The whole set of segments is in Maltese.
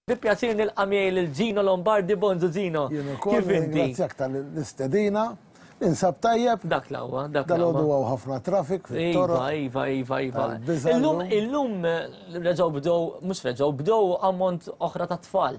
Bi pjaċir nilqa' miegħi lil Gino Lombardi Bonzu Gino. Kif inti? Grazzjak tal-istedina. Insab tajjeb. Dak l-għawa, dak l-għawa. Dal-għodu għaw ħafna trafik fil-toro. Iva, iva, iva, iva. Illum, illum, reġaw bdow, mux reġaw, bdow ammont oħra ta' tfal.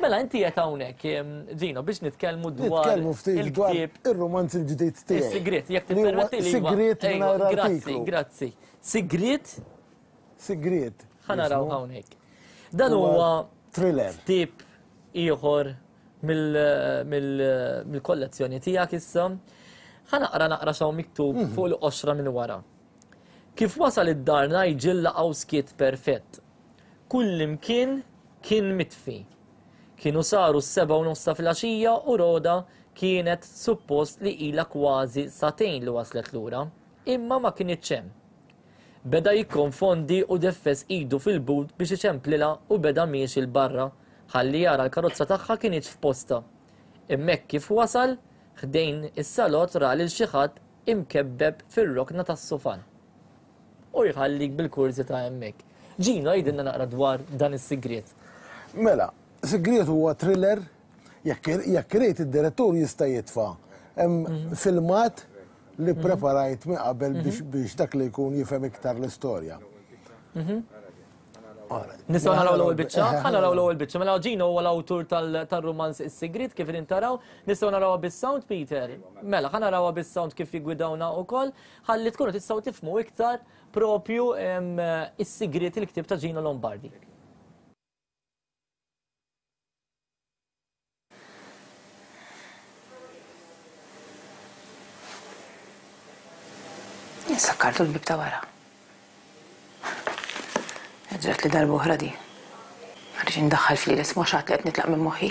Mela inti qed hawnhekk, Gino, biex nitkellmu dwar. Nitkellmu ftit dwar ir-rumanz il-ġdid tiegħi. Sigriet, jekk tippermetti li. Sigriet mingħajr artiklu. Grazzi, grazzi. Sigriet? Sigriet. Ħanaraw hawnhekk. Dan huwa thriller. Tip ieħor mill-kollezzjoni tiegħek issa. Ħanaqra naqra xaw miktub mhm. fuq il-qoxra minn wara. Kif wasal id-dar najġilla għaw skit perfett, Kullimkien kien mitfi. Kienu saru s-sebgħa u nofs ta' filgħaxija u Rhoda kienet suppost li ilha kważi sagħtejn li waslet lura, imma ma kinitx hemm. Beda jikkonfondi u deffes idu fil-but biex iċemplilha u beda miexi 'l barra ħalli jara l-karozza tagħha kinitx f'postha. Hemmhekk kif wasal ħdejn is-salott ra lil xi ħadd imkebbeb fir-rokna tas-sufan. U jħallik bil-kurżità hemmhekk. Gino, għidilna naqra dwar dan is-sigriet. Mela, Sigriet huwa thriller, jekk irid id-direttur jista' jitfa' hemm filmat li ppreparajt minn qabel biex dak li jkun jifhem iktar l-istorja. Nistgħu naraw l-ewwel biċċa? Ħa naraw l-ewwel biċċa. Mela Gino huwa l-awtur tar-rumanz Is-Sigriet kif qegħdin taraw. Nistgħu narawha bis-sound, Peter? Mela, ħa narawha bis-sound kif jiggwidawna wkoll. Ħalli tkunu tistgħu tifhmu iktar proprju s-sigriet il-ktieb ta' Gino Lombardi. Sakkartu l-bieb ta' wara. Ġratli darba oħra din. Ma rridx indaħħal f'lieli, isma' x'għad li qed nitlaq minn moħħi.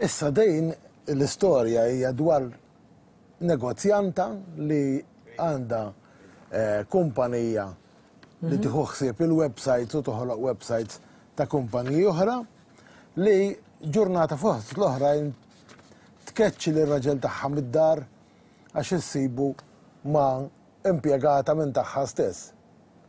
Issa din l-istorja hija dwar negozjanta li għandha kumpanija li tieħu ħsieb il-websites u toħloq websites ta' kumpaniji oħra li ġurnata fost l-oħrajn tkeċċi lir-raġel tagħha mid-dar għax issibu ma' impjegata minn tagħha stess.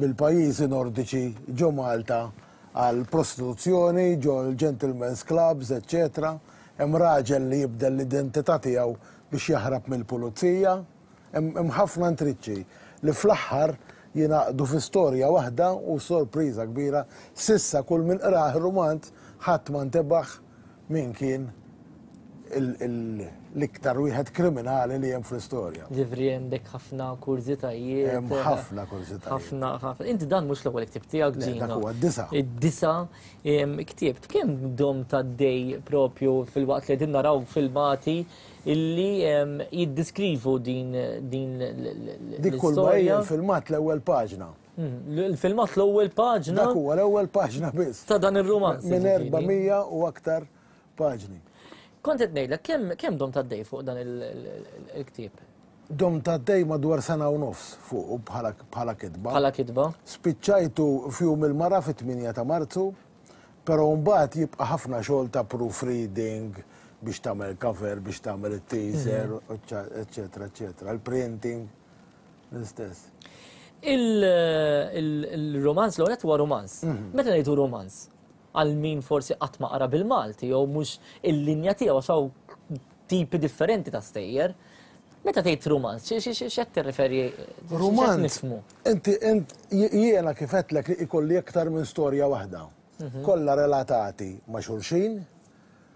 mill-pajjiżi Nordiċi ġo Malta għal prostituzzjoni ġo l-gentlemen's clubs eċċetera, hemm raġel li jibdel l-identità tiegħu biex jaħrab mill-pulizija, hemm hemm ħafna intriċċi li fl-aħħar jingħaqdu fi storja waħda u sorpriża kbira s'issa kull min qrah ir-rumanz ħadd ma ntebaħ Min kien l-iktar wieħed kriminali li hemm fl-istorja. Ġifri hemm dek ħafna kurżitajiet. Hemm ħafna kurżitajiet. Ħafna, ħafna. Inti dan mhux l-ewwel ktieb tiegħek ġin. Dak huwa d-disa. Id-disa ktieb. Kemm dom ta' dej propju fil-waqt li qegħdin naraw filmati illi jiddiskrivu din l-istorja. Dik kull filmat l-ewwel paġna. Il-filmat l-ewwel paġna. Dak huwa l-ewwel paġna biss. Ta' dan ir-rumanz. Minn 400 u aktar paġni. Kont qed ngħidlek kemm kemm dom tad-dej fuq dan il-ktieb? Dom tad-dej madwar sena u nofs fuq bħala kitba. Bħala kitba. Spiċċajtu f'jum il-mara fit-8 ta' Marzu, però mbagħad jibqa' ħafna xogħol ta' proofreading biex tagħmel cover, biex tagħmel it-teaser, eċċetera, eċċetera, il-printing. L-istess. Il-romanz l għonet huwa romanz. Mhm. Meta ngħidu romanz, għal min forsi qatt ma qara bil-Malti jew mhux il-linja tiegħu xaw tipi differenti ta' stejjer. Meta tgħid romanz, x'qed tirreferi? Romanz nifmu. Inti int jiena kif qedlek li ikolli aktar minn storja waħda. Mhm. Kollha relatati ma' xulxin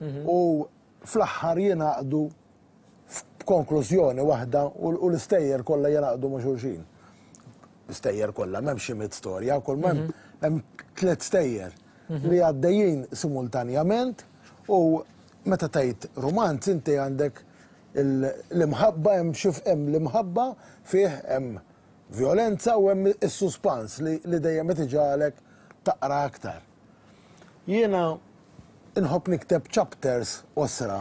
mhm. u fl-aħħar jingħaqdu f'konklużjoni waħda u l-istejjer kollha jingħaqdu ma' xulxin. L-istejjer kollha, m'hemmx xi mit storja, kull ma mhm. hemm tliet stejjer mhm. li għaddejjin simultanjament u meta tgħid romanz inti għandek l-imħabba hemm xif hemm l-imħabba fih hemm violenza u hemm is-suspans li dejjem qed iġalek taqra aktar. Jiena nħobb nikteb chapters qosra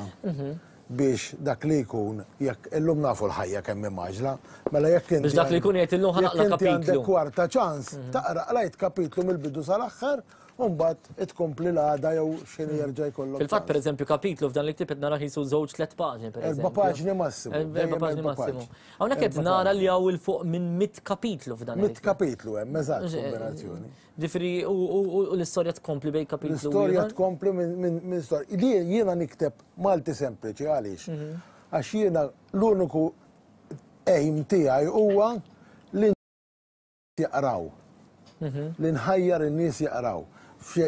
biex dak li jkun jekk illum nafu l-ħajja kemm hi mgħaġġla, mela jekk inti. Biex dak li jkun jgħid illum ħa naqra' kapitlu. Jekk inti għandek kwarta ċans, taqra qrajt kapitlu mill-bidu sal-aħħar u mbagħad itkompli l-għada jew x'inhu jerġa' jkollok. Fil-fatt pereżempju kapitlu f'dan il-ktieb qed nara qisu żewġ tliet paġni pereżempju. Erba' paġni massimu. Erba' paġni massimu. Hawnhekk qed nara li hawn 'il fuq minn mitt kapitlu f'dan il-ktieb. Mitt kapitlu hemm, eżatt, kombinazzjoni. Ġifiri, u l-istoria tkompli bej kapitlu. L-istoria tkompli minn istoria. Di jiena nikteb Malti sempliċi, għalix? Mhm. Għax jiena l-uniku aim tijaj huwa li jaqraw. Mhm. Li nħajjar in-nies jaqraw.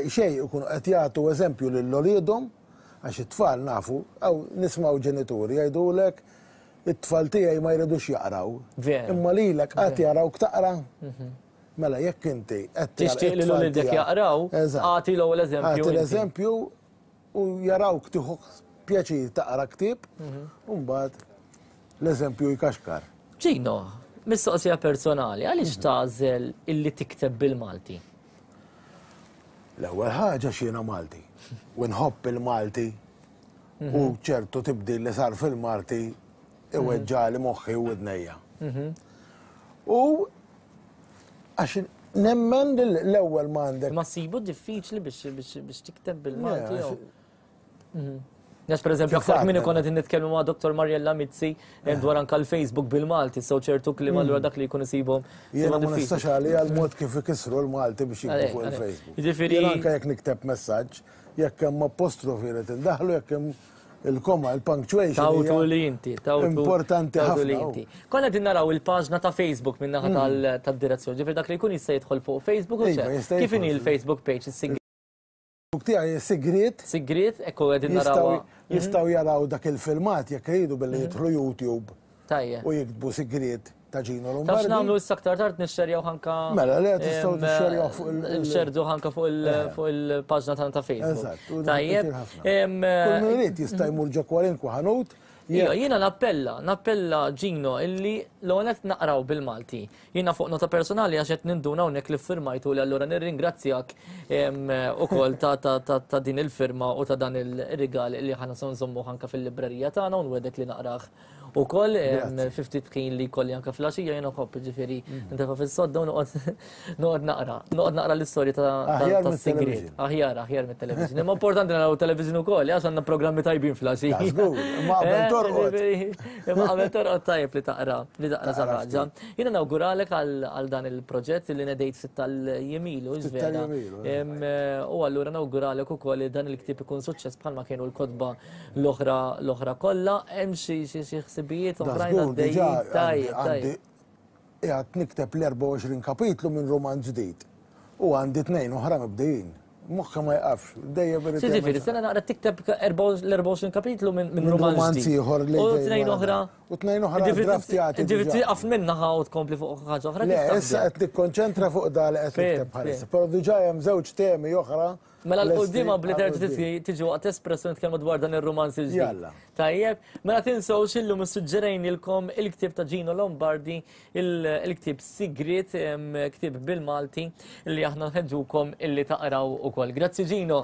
Xej, ikun qed jagħtu eżempju lil oliedhom għax it-tfal nafu, għaw nismaw ġenituri jgħidulek it-tfal tiegħi ma jridux jaqraw. Imma lilek qatt jaqraw ktaqra. Mhm. Mela jekk inti qed tgħallem Tixtieq li l-ulidek jaqraw? Eżatt. Agħti l-ewwel eżempju inti. Agħti l-eżempju u jarawk tieħu pjaċir taqra ktieb u mbagħad l-eżempju jkaxkar. Gino, mistoqsija personali, għaliex tagħżel illi tikteb bil-Malti? L-ewwel ħaġa għax jiena Malti u nħobb il-Malti u ċertu tibdil li sar fil-Malti iweġġali moħħi u widnejja. U Għax nemmen li l-ewwel ma għandek. Ma ssibu diffiċli biex tikteb bil-Malti jew. Mhm. Għax per eżempju, għafak minni konna din nitkellmu ma' Dr. Mariella Mizzi eh, dwar anka l-Facebook bil-Malti, so ċertu klim għallura mm. dak li jkun isibhom. Jena ma nistax għalli għal-mod kif ikisru l-Malti biex jikbu fuq il-Facebook. Ġifiri. Anka jek nikteb messaġġ, jekk hemm apostrofi li tindaħlu, jekk hemm Il-koma, il-punctuation. Tawtu li inti, tawtu. Importanti ħafna. Konna din naraw il-paġna ta' Facebook minna ħata mm. tal-direzzjoni, ġifir dak li jkun jista' jidħol fuq Facebook u iva, xe. Kif inhi il-Facebook page, il-sigriet? Tiegħi sigriet. Sigriet, ekku għedin naraw. Jistaw mhm. jaraw dak il-filmat jekk jridu billi mhm. jidħlu YouTube. Tajja. U jiktbu sigriet. ta' Gino Lombardi. Tafx nagħmlu issa aktar tard nixxerjaw ħanka. Mela, le tistgħu tixxerjaw fuq il- Nixxerdu ħanka fuq eh. il-paġna tagħna ta' Facebook. Eżatt. Tajjeb. Kull min irid jista' jmur ġo kwalinkwa ħanut Iva, jiena nappella, nappella ġino illi l-għonet naqraw bil-Malti. Jiena fuq nota personali għax qed ninduna hawnhekk li firmajtu li allura nirringrazzjak ukoll ta' din il-firma u ta' dan il-rigal li ħana sonżommu ħanka fil-librerija tagħna u nwedek li naqrah U koll, fi ftit ħin li kolli anke fl-għaxija jien uħobb, ġifieri, intefa' fis-sodda u noqgħod noqgħod naqra. Noqgħod naqra l-istorja ta' Aħjar mis-sigriet. Aħjar, aħjar mit-television. Imma importanti naraw television ukoll, għax għandna programmi tajbin fl-għaxija. Ta' żgur, imma qabel torqod. Imma qabel torqod tajjeb li taqra, li taqra xi ħaġa. Jiena nawguralek għal dan il-proġett li ngħidejt ftit tal-jiem ilu, żvela. U allura nawguralek ukoll li dan il-ktieb ikun suċċess bħalma kienu l-kotba. L-oħra, l-oħra kollha, hemm xi xi ħsibijiet oħrajn għaddejjin. Tajjeb, tajjeb. Qiegħed nikteb l-24 kapitlu minn rumanz ġdid. U għandi tnejn oħra mibdejjin. Moħħi ma jqafx, dejjem irid. Jiġifieri sena naqra tikteb l-24 kapitlu minn rumanz ieħor li. U tnejn oħra. U tnejn oħra draftjati. Ġifieri tieqaf minnaħa u tkompli fuq ħaġa oħra. Le, issa qed nikkonċentra fuq dal qed nikteb bħalissa. Però diġà hemm żewġ temi oħra Mela l-qoddima bli terġa titli tiġi waqt espresso nitkellmu dwar dan ir-rumanz il-ġdid. Tajjeb, mela tinsewx illum issuġġerejnilkom il-ktieb ta' Gino Lombardi, il-ktieb Sigrit, ktieb bil-Malti li aħna nħeġġukom illi taqraw ukoll. Grazzi Gino.